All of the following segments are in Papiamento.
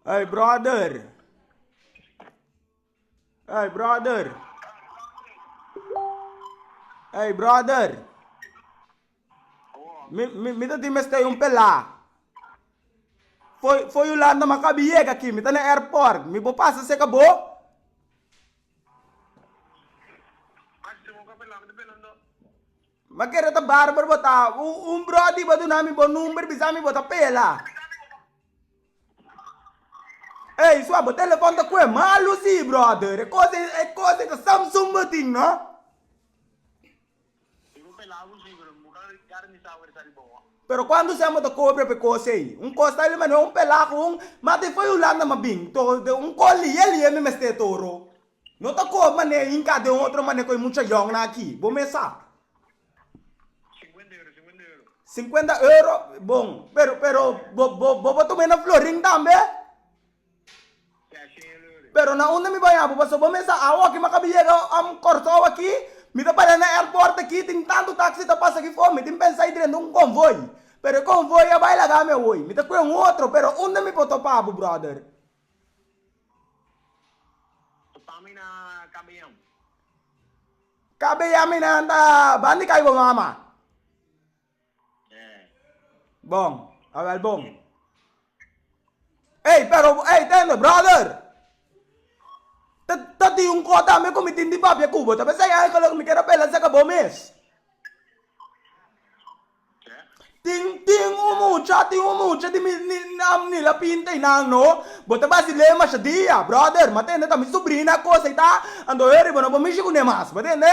Ey brother. Ey brother. Ey brother. Mi, mi, mi ta tin mestei un pelá. Foi, foi Yolanda ma kabi yega aqui. Mi ta na airport. Mi bo pasa seca bo. Mas se mo ka pela, mi ta pela no. Ma keda ta barber bo ta un bro di bo duna mi bo number bisa mi bo ta pela ey sua bo telefon ta kue malu si brother e cosa e cosa esa samsung bo tin no. Pero cuando sea bo ta cobra pe cosa ey un cosa ta lima no un pela con un ma te foi hulanda ma bin to un call liye liye mi mester toro. No ta kob mane e hinka den otro mane koe mucha yongnan aki. Bo mes sa. Sinkuenta euro, sinkuenta euro. Sinkuenta euro, bon. Pero, pero, bo, bo, bo por tuma e na Florin tambe? Ya, shen el ori. Pero na unda mi baña bo? Paso bo mes sa awo aki mi a kabi yega am Kòrsou aki, mi ta para na airport aki, tin tantu taksi ta pasa aki for, mi tin pensa i drenta un konvoi. Pero e konvoi a bai laga mi awoy. Mi ta koe un otro, pero unda mi por topa bo, brother? Kabeyam mi nan ta ban di kai bo mama. Bon, a wel bon. Ey, pero, ey, tende, brother. Ta, ta tin un kos tambe ku mi tin di papia ku bo. Ta besei eigenlijk mi ke ta bela saka bo mes. Tin tin un mucha tin un mucha di mi ni nan ni la pinta y nan no bo ta basileo masha dia brother ma tende ta mi subrina cos ey ta anto heri bo no bo mishi cu ne mas bo tende.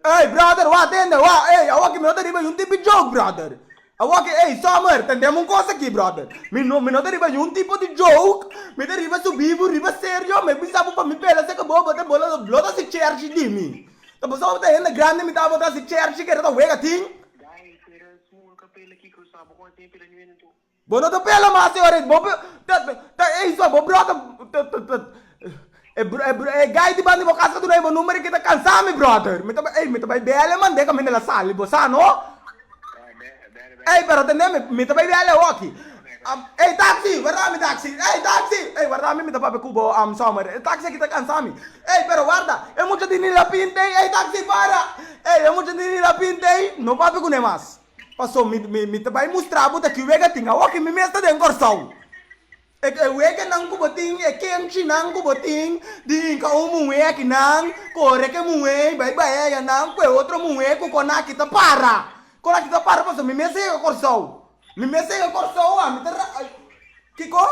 Ey brother wak tende wak ey awa ki mi no ta riba y un tipi joke brother. Awor ke ey summer tendem un cosa aki brother. Mi no mi no ta riba niun tipo di joke, mi ta riba subi bo riba serio, mi a bisa bo pa mi pela seka bo bo ta bola lo lo ta haci cherchi di mi. Ta pasobra bo ta hende grandi mi ta bo ta haci cherchi keda ta wega tin. Bo no ta pela mas e ora ey bo ta ta ey so bo brother ta ta ta. E guy di banda di bo kas ka dunai bo number e kita kansa mi brother mi ta bai ey mi ta bai bele mande ka mi na la sali bo sa no ey pero tendemi mi ta bai bele hoki ey taxi warda mi taxi ey taxi ey warda mi mi ta papia cu bo summer e taxi a kita kansa mi ey pero warda e mucha di nila pint ey ey taxi para ey e mucha di nila pint ey no papia cune mas paso mi mi mi ta bai mustra bo ta ki wega tin a hoki mi mes ta den Kòrsou. E huekenan ku bo tin, e kenchinan ku bo tin di hinka un muhé akinan, kore ke muhé i bai bai ayanan ku e otro muhé ku kon aki ta para. Kon aki ta para pasobra mi mes a yega Kòrsou. Mi mes a yega Kòrsou, ami ta ra-. Kiko?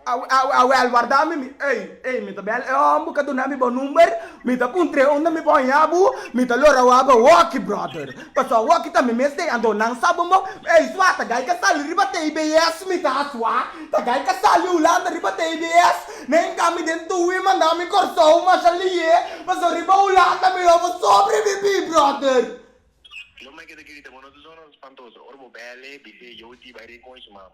Awel warda mi mi ey ey mi ta bel e hom bo ka duna mi bo number mi ta puntre unda mi por haya bo mi ta lo rawa bo hockey brother paso hockey ta mi mes te ando nan sa bo ey swa ta gai ka sali riba tbs mi sa swa ta gai ka sali hulanda riba tbs ne enka mi den tuwi manda mi corsou masha liye paso riba hulanda mi lo bo sobre vivi brother. Lo meke ta grita bo no ta sono spantoso ora bo bele bisey yo di bay rincon y su mama.